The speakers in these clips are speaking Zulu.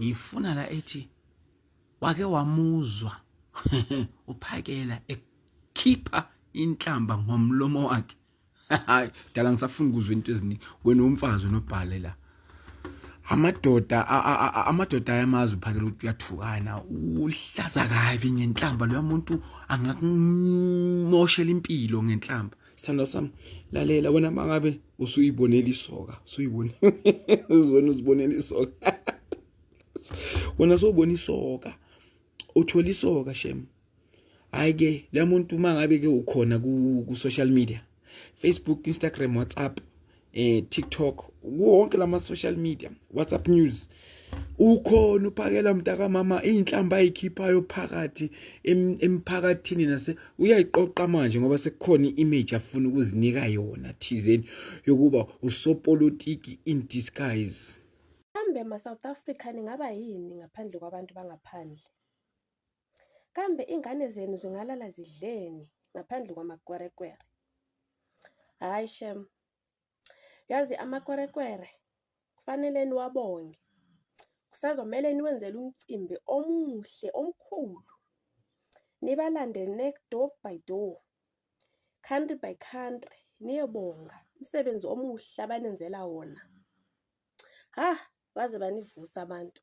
ngiyifuna la ethi wake wamuzwa uphakela ekhipha inhlamba ngomlomo wakhe hayi dala ngisafuna ukuzwa into eziningi wena umfazi unobhale la amadoda amadoda ayamazi uphakela ukuthi uyathukana uhlaza kabi ngenhlamba loya muntu angakumoshela impilo ngenhlamba sithandwa sami lalela wena mangabe usuyibonela isoka usuyibone uzona uzibonela isoka wena sobona isoka uthola isoka shem hayi ke le muntu uma ngabe ke ukhona ku-social media facebook instagram whatsapp eh tiktok wonke lama-social media whatsapp news ukhona uphakela mntakamama iy'nhlamba ayikhiphayo phakathi emphakathini nase uyayiqoqa manje ngoba sekukhona i-image afuna ukuzinika yona thizeni yokuba usopolitiki in disguise kambe ma-south africa ningaba yini ngaphandle kwabantu bangaphandle Kambe ingane zenu zingalala zidleni ngaphandle kwamakwerekwere? Hayi shem, yazi amakwerekwere kufanele niwabonge. Kusazomele niwenzele umcimbi omuhle omkhulu, nibalande next door by door, country by country, niyobonga umsebenzi omuhle abanenzela wona. Ha, baze banivusa abantu.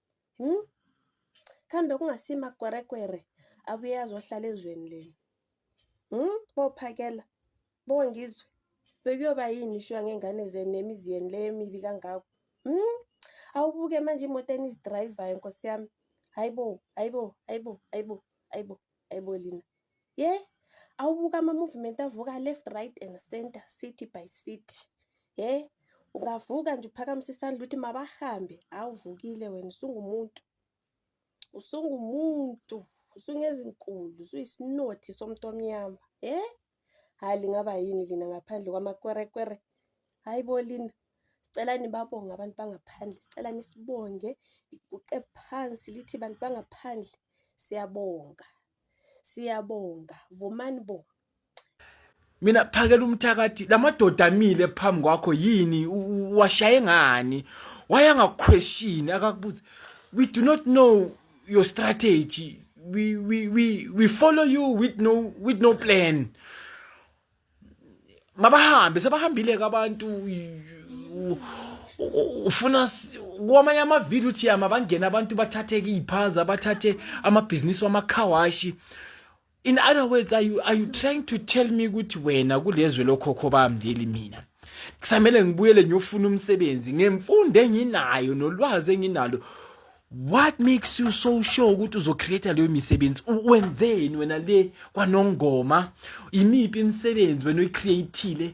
hmm? kambe kungasima kwerekwere abuye azohlala ezweni lenu hmm? bophakela bongizwe bekuyoba yini ishuwa ngey'ngane zenu nemizi yenu le emibi kangako hmm? awubuke manje imoto enizidrayivayo nkosi yami hayibo hayibo hayibo hayibo hayibo Aibo lina. Ye? Awubuka ama movement avuka left right and center city by city. Ye? Ungavuka nje uphakamise isandla ukuthi mabahambe. Awuvukile wena usungumuntu. Usungumuntu. Usungezinkulu, usuyisinothi somuntu omnyama. Ye? hayi lingaba yini lina ngaphandle kwamakwerekwere hayi bo lina sicela nibabonge abantu bangaphandle sicela nisibonge liguqe phansi lithi bantu bangaphandle siyabonga siyabonga vumani bo mina phakela umthakathi lamadoda amile phambi kwakho yini washaye ngani wayangakhweshini akakubuza we do not know your strategy we we we we follow you with no with no plan mabahambe sebahambile abantu ufuna kwamanye amavideo uthi yama bangena abantu bathathe iy'phaza bathathe amabhizinisi wamakhawashi in other words are you, are you trying to tell me ukuthi wena kulezwe lokhokho bami leli mina kusamele ngibuyele ngiyofuna umsebenzi ngemfundo enginayo nolwazi enginalo what makes you so sure ukuthi uzocreate leyo misebenzi wenzeni wena le kwanongoma imiphi imisebenzi wena oyicreatile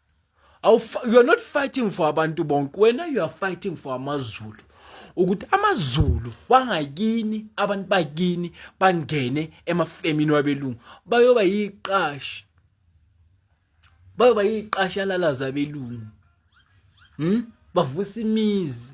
you are not fighting for abantu bonke wena you are fighting for amazulu ukuthi amazulu wangakini abantu bakini bangene emafemini wabelungu bayoba yiqashi bayoba yiqashi alalaza abelungu hm bavusa imizi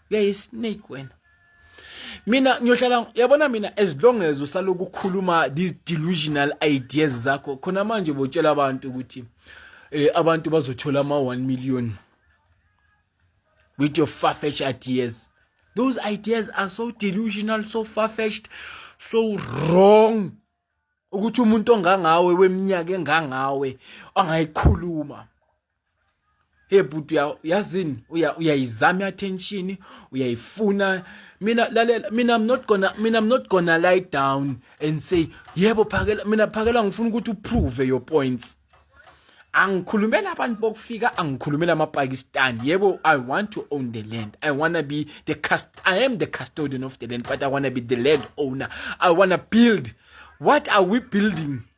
uyayi-snake wena mina ngiyohlala yabona mina as long as usaloku ukhuluma these delusional ideas zakho khona manje botshela abantu ukuthi eh abantu bazothola ama 1 million with your far-fetched ideas those ideas are so delusional so far-fetched so wrong ukuthi umuntu ongangawe weminyaka engangawe angayikhuluma hey bhuti yazini uyayizama i-attention uyayifuna mina lalela mina i'm not gonna mina i'm not gonna lie down and say yebo phakela mina phakela ngifuna ukuthi uprove your points angikhulumela abantu bokufika angikhulumela amapakistan yebo i want to own the land i wanna be the cast i am the custodian of the land but i wanna be the land owner i wanna build what are we building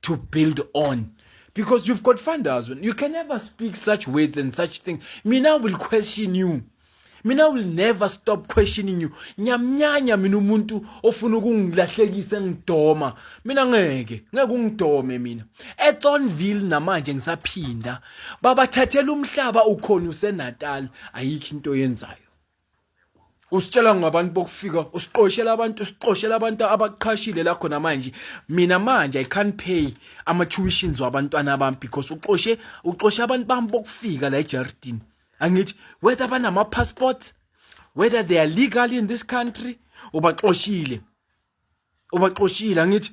to build on because you've got funders you can never speak such words and such things mina will question you mina will never stop questioning you ngiyamnyanya mina umuntu ofuna ukungilahlekisa ngidoma mina ngeke ngeke ungidome mina eThornville namanje ngisaphinda babathathela umhlaba ukhona useNatal ayikho into yenzayo usitshela ngabantu bokufika usiqoshela abantu usiqoshela abantu abaqhashile la khona manje mina manje i can't pay ama tuitions wabantwana bami because uqoshe uqoshe abantu bami bokufika la eJardin angithi whether banama passports whether they are legal in this country ubaxoshile ubaxoshile angithi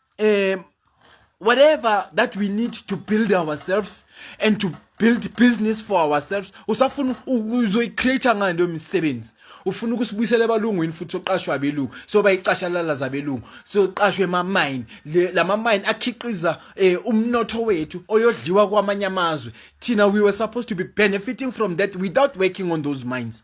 um whatever that we need to build ourselves and to build business for ourselves usafuna uzoyicreate ngani leyo misebenzi ufuna ukusibuyisela ebalungwini futhi oqashwa abelungu so bayicashalala zabelungu so qashwe ema-mine lama-mine akhiqiza eh, umnotho wethu oyodliwa kwamanye amazwe thina we were supposed to be benefiting from that without working on those mines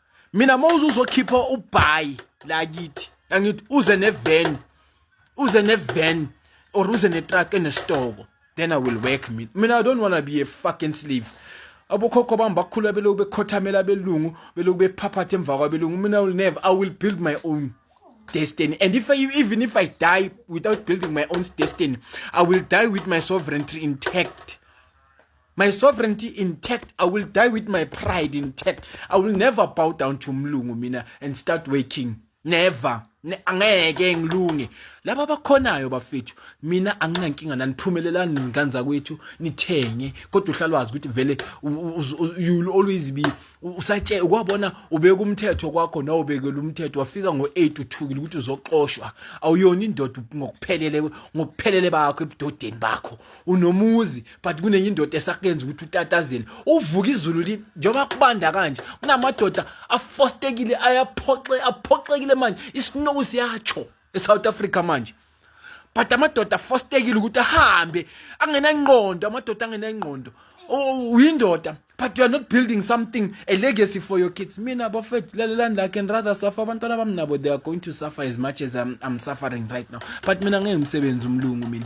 mina mawuze uzokhipha ubhayi la kithi angithi uze nevan uze nevan or uze netruck enesitoko then i will work mina mina i don't want to be a fucking slave abokhokho bami bakhula beloku bekhothamela abelungu beloku bephaphatha emva kwabelungu mina i will never i will build my own destiny. And if I, even if I die without building my own destiny, I will die with my sovereignty intact. my sovereignty intact i will die with my pride intact i will never bow down to mlungu mina and start waking never angeke ngilunge laba bakhonayo bafethu mina anginankinga nani phumelelani izingane zakwethu nithenge kodwa uhlalwazi ukuthi vele you always be usatshe ukwabona ubeka umthetho kwakho nawe ubekela umthetho wafika ngo8 uthukile ukuthi uzoxoshwa awuyona indoda ngokuphelele ngokuphelele bakho ebudodeni bakho unomuzi but kunenye indoda esakuyenza ukuthi utatazele uvuka izulu li njengoba kubanda kanje kunamadoda afostekile ayaphoxe aphoxekile manje isnow siyatsho eSouth Africa manje but amadoda afostekile ukuthi ahambe angenangqondo amadoda angenangqondo uyindoda oh, but you are not building something a legacy for your kids mina bafethu lalelani la can rather suffer abantwana bami nabo they are going to suffer as much as I'm, I'm suffering right now but mina ngeke umsebenzi umlungu mina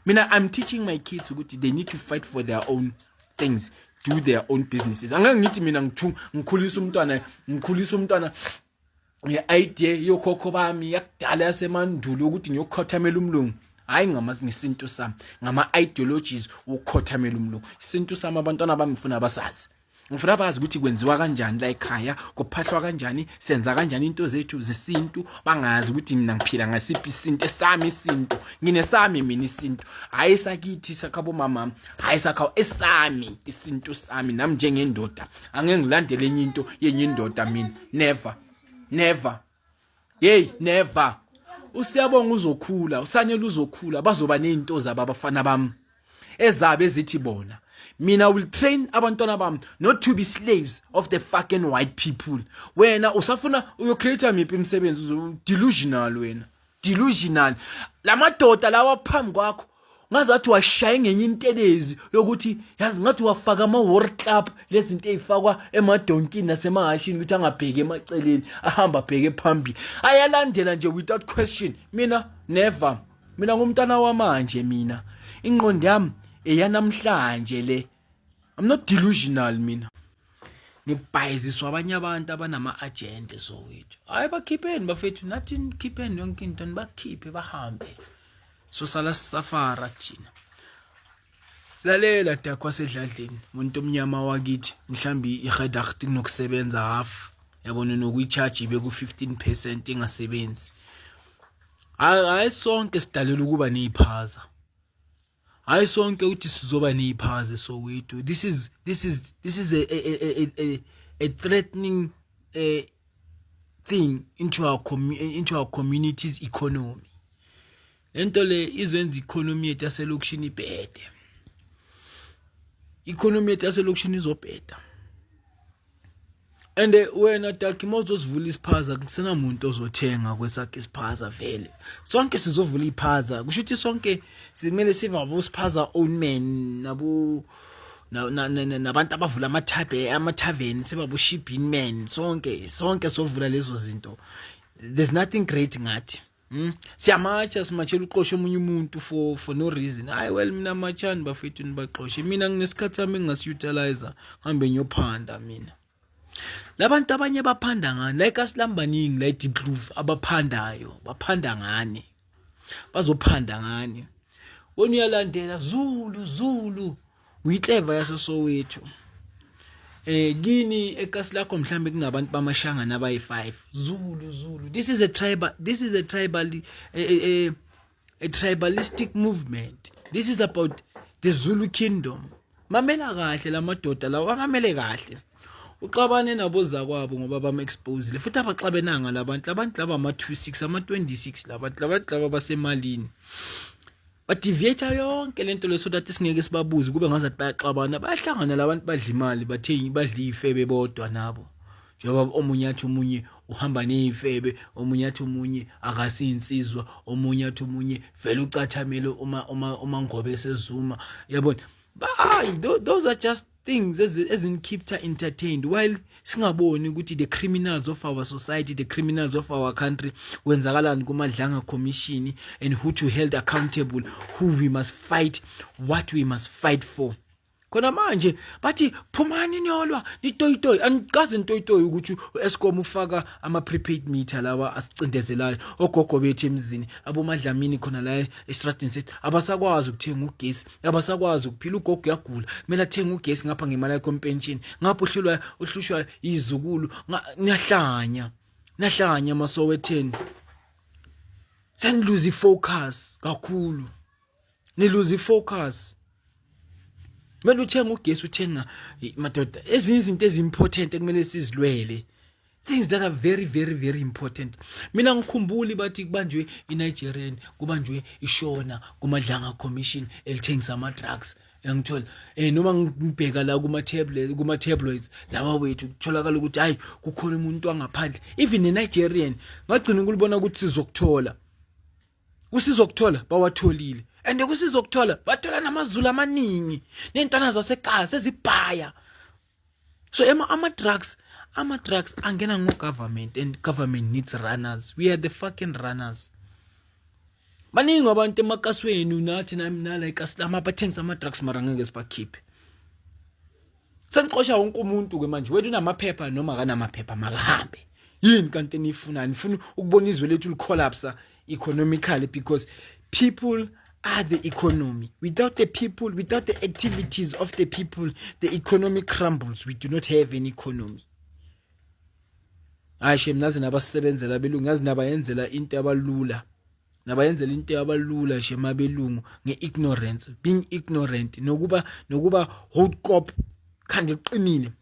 mina i'm teaching my kids ukuthi they need to fight for their own things do their own businesses angeke ngithi mina ngithu ngikhulisa umntwana ngikhulisa umntwana nge-idea yokhokho bami yakudala yasemandulo ukuthi ngiyokhothamela umlungu hayi ngamazi ngesintu sami ngama-ideologies wokukhothamela umlungu isintu sami abantwana bami ngifuna basazi ngifuna bazi ukuthi kwenziwa kanjani la ekhaya kuphahlwa kanjani senza kanjani into zethu zesintu bangazi ukuthi mina ngiphila ngasiphi isintu esami isintu nginesami mina isintu hayi sakithi sakhabo mama hayi sakhawo esami isintu sami nami njengendoda angeke ngilandele enye into yenye indoda mina never never hey never usiyabonga uzokhula usanyela uzokhula bazoba nezinto zabo abafana bami ezabe ezithi bona mina will train abantwana bami not to be slaves of the fucking white people wena usafuna uyocreate miphi imisebenzi delusional wena delusional lamadoda lawa phambi kwakho ngazathi washaye ngenye intelezi yokuthi yazi ngathi wafaka ama war club lezinto ezifakwa emadonkini nasemahashini ukuthi angabheki emaceleni ahamba bheke phambili ayalandela nje without question mina never mina ngumntana wamanje mina inqondo yami eyanamhlanje le I'm not delusional mina nibhayiziswa abanye abantu abanama-agenda sowethu hhayi bakhipheni bafethu nathi nikhipheni yonke into nibakhiphe bahambe sosala sisafara thina lalela dakho wasedladleni muntu omnyama wakithi mhlawumbe i-redact kunokusebenza half yabona nokuyi-charge ibe ku-15 percent ingasebenzi hhayi sonke sidalelwa ukuba ney'phaza hayi sonke ukuthi sizoba neyiphaze soweto this is this is this is a a a a, a threatening uh, thing into our into our community's economy lento le izwenza economy yethu yaselokishini ibhede economy yethu yaselokishini izobheda and eh, wena daki mawuzosivula isiphaza kusenamuntu ozothenga kwesakhe isiphaza vele sonke sizovula iphaza kusho ukuthi sonke simele sivabo siphaza own man nabo nabantu abavula amathabe amathaveni sibabo shipping man sonke sonke sovula lezo zinto there's nothing great ngathi Hmm? siyamatsha simatshela uxoshe omunye umuntu for for no reason hayi well mina matshani bafethu nibaxoshe mina nginesikhathi sami engingasiyutilizer ngihambe ngiyophanda mina labantu abanye baphanda ngani like asilambaningi la deep groove abaphandayo baphanda ngani bazophanda ngani wena uyalandela zulu zulu Uyikleva yaseSoweto. Eh kini ekasi lakho mhlambe kungabantu bamashanga nabayi 5. Zulu Zulu. This is a tribal this is a tribal a, eh, a, eh, eh, a tribalistic movement. This is about the Zulu kingdom. Mamela kahle lamadoda lawa mamele kahle. uxabane nabo zakwabo ngoba bam exposile futhi abaxabenanga labantu labantu laba ama 26 ama 26 labantu labantu laba basemalini badeviate yonke lento le so that singeke sibabuze kube ngazathi bayaxabana bayahlangana labantu badla imali bathengi badla ifebe bodwa nabo njengoba omunye athi omunye uhamba nezifebe omunye athi omunye akasinsizwa omunye athi omunye vele ucathamele uma uma uma ngobe sezuma yabona those are just things ezinikeepta entertained while singaboni ukuthi the criminals of our society the criminals of our country kwenzakalani kumadlanga commission and who to held accountable who we must fight what we must fight for khona manje bathi phumani niyolwa nitoyitoyi anikaze nitoyitoyi ukuthi u-escom ufaka ama-prepaid meter lawa asicindezelayo ogogo bethu emzini abomadlamini khona la estradini sethu abasakwazi ukuthenga ugesi abasakwazi ukuphila ugogo uyagula kumele athenge ugesi ngapha ngemali yakho empentshini ngapha uhlulwa uhlushwa izukulu niyahlanya nahlanya masowetheni seniluza ifocus kakhulu niluza ifocus kumele uthenga ugesi uthenga madoda ezinye izinto ezimportant ekumele sizilwele things that are very very very important mina ngikhumbuli bathi kubanjwe inigerian kubanjwe ishona kumadlanga commission elithengisa ama-drugs yangithola eh noma ngibheka la kuma tablet kuma tabloids lawa wethu kutholakala ukuthi hayi kukhona umuntu wangaphandle even ne Nigerian ngagcina ukulibona ukuthi sizokuthola kusizokuthola bawatholile and kusizokuthola bathola namazulu amaningi nentwana zasekhaya sezibhaya so ema ama drugs ama drugs angena ngo government and government needs runners we are the fucking runners baningi abantu emakasweni unathi nami nala ikasilama abathengisa ama drugs mara ngeke sibakhiphe senixosha wonke umuntu ke manje wethu unamaphepha noma akanamaphepha makahambe yini kanti eniyifuna nifuna ukubona izwe lethu licollapse economically because people are the economy without the people without the activities of the people the economy crumbles we do not have an economy hayi shem nazi nabasebenzela abelungu ngazi nabayenzela into abalula nabayenzela into abalula shem abelungu ngeignorance being ignorant nokuba nokuba hot cop khandi qinile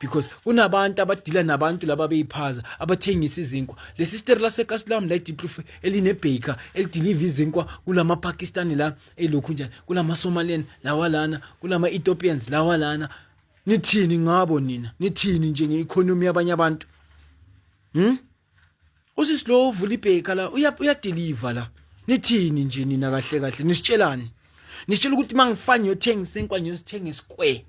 because kunabantu abadila nabantu laba beyiphaza abathengisa izinkwa le sister lasekasilam la idiplufe elinebhaker elidiliva izinkwa kulama pakistani la elokhu njani kulama somalian lawa lana kulama ethiopians lawa lana nithini ngabo nina nithini nje nge-economy yabanye abantu hmm? usisi lo uvula ibheka la uyadeliver la nithini nje nina kahle kahle nisitshelani nisitshela ukuthi mangifana ngiyothenga isinkwa ngiyosithenga esquare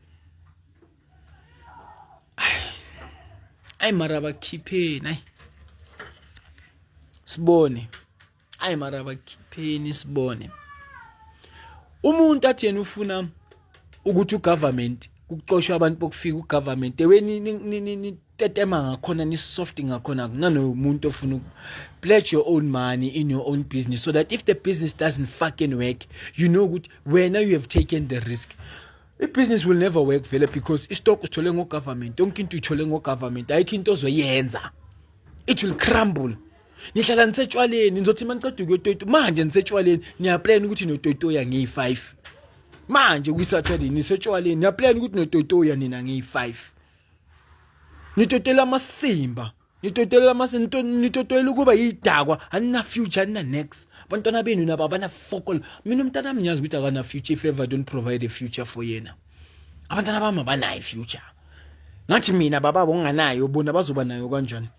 ayi mara bakhipheni ayi sibone ayi mara bakhipheni sibone umuntu athi yena ufuna ukuthi ugovernment kucoshwa abantu bokufika ugovernment eweni nitetema ngakhona nisoft ngakhona kunanomuntu ofuna pledge your own money in your own business so that if the business doesn't fucking work you know ukuthi wena you have taken the risk i-business will never work vele because istock usithole ngogovernment yonke into uyithole ngogovernment ayikho into ozoyenza it will crumble ngihlala nisetshwaleni nizothi uma niceda ukuyotoyito manje nisetshwaleni niyaplana ukuthi notoyitoya ngiyi-five manje kwisaturday nisetshwaleni niyaplana ukuthi notoyitoya nina ngiyi-five nitotela amasimba nitotela amasimba nitotela ukuba yidakwa anina-future anina-next abantwana benu nabo abana-fokol mina umntana ami ngiyazi ukuthi akana-future if ever don't provide a future for yena abantwana bami abanayo i-future ngathi mina bababo nginganayo bona bazoba nayo kanjani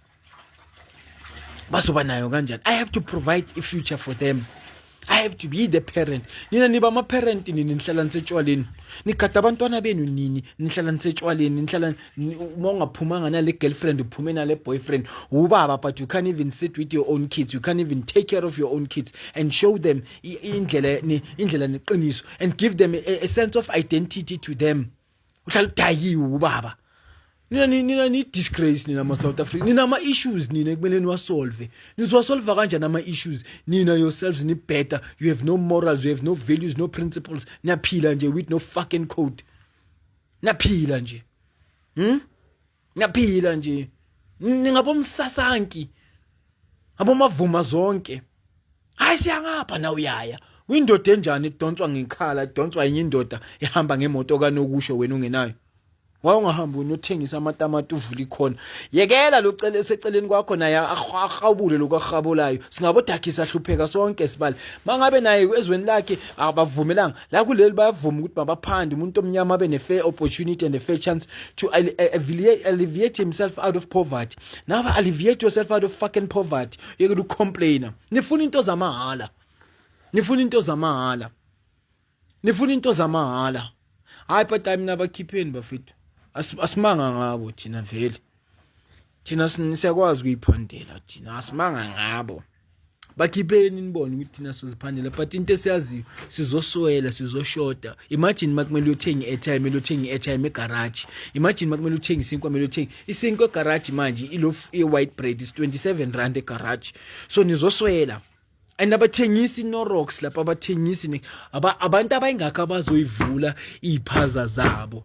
bazoba nayo kanjani i have to provide a future for them i have to be the parent nina niba ama-parent nini nihlala nisetshwaleni nigada abantwana benu nini nihlala nisetshwaleni nihlala uma ungaphumanga nale girlfriend uphume nale boyfriend ubaba but you can't even sit with your own kids you can't even take care of your own kids and show them indlela indlela neqiniso and give them a, a sense of identity to them uhlala udayiwe ubaba nina nina ni disgrace nina ma South Africa nina ama issues nina kumele niwasolve nizowasolva kanjani ama issues nina yourselves ni better you have no morals you have no values no principles niyaphila nje with no fucking code naphila nje hm ngiyaphila nje ningabomsasanki abomavuma zonke hayi siyangapha na uyaya uyindoda enjani idonswa ngekhala idonswa yenye indoda ihamba ngemoto kanokusho wena ungenayo wawungahambi wena uthengisa amatamati uvula ikhona yekela lo cele eseceleni kwakho naye ahawubule lokhu ahabolayo singabodakhisa hlupheka sonke sibali mangabe naye ezweni lakhe abavumelanga la kuleli bayavuma ukuthi mabaphande umuntu omnyama abe ne-fair opportunity and a fair chance to alleviate himself out of poverty nawe alleviate yourself out of fucking poverty yekela ukucomplaina nifuna into zamahhala nifuna into zamahhala nifuna into zamahhala hayi but hayi mina bakhipheni bafethu asimanga ngabo thina vele thina siyakwazi ukuyiphandela thina asimanga ngabo bakhipheni nibone ukuthi thina siziphandela but into esiyaziyo sizoswela sizoshoda imagine makumele uyothenga i-airtime kumele uthenge i-airtime egaraji imagine makumele uthenge isinkwa kumele uthenge isinkwa egaraji manje ilof i-white bread is 27 rand egaraji so nizoswela and abathengisi norocks lapha abathengisi abantu abayingakho abazoyivula iy'phaza zabo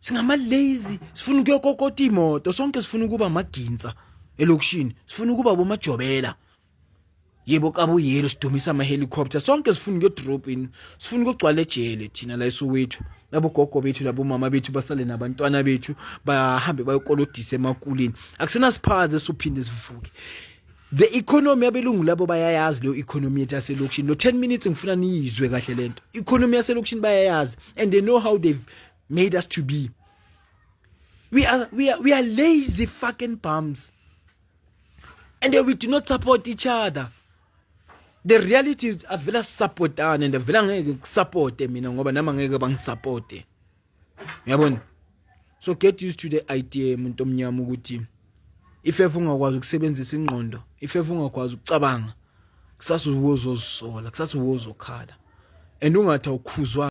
singamalazy sifuna ukuyokokota imoto sonke sifuna ukuba amagintsa elokishini sifuna ukuba bomajobela yebo kabuyelo sidumisa ama helicopter sonke sifuna ukuyodrop in sifuna ukugcwala ejele thina la eSoweto labo gogo bethu labo mama bethu basale nabantwana bethu bahambe bayokolodisa emakulini akusena siphaze sophinde sivuke the economy abelungu labo bayayazi leyo economy yethu yaselokishini lo 10 minutes ngifuna niyizwe kahle lento economy yaselokishini bayayazi and they know how they've made us to be we are we are we are lazy fucking bums and we do not support each other the reality is avela sisapotane and avela ngeke kusapote mina ngoba nama ngeke bangisapote uyabona so get used to the idea umuntu omnyama ukuthi ifefe ungakwazi ukusebenzisa ingqondo ifefe ungakwazi ukucabanga kusasa uwozozisola kusasa uwozokhala and ungathi awukhuzwa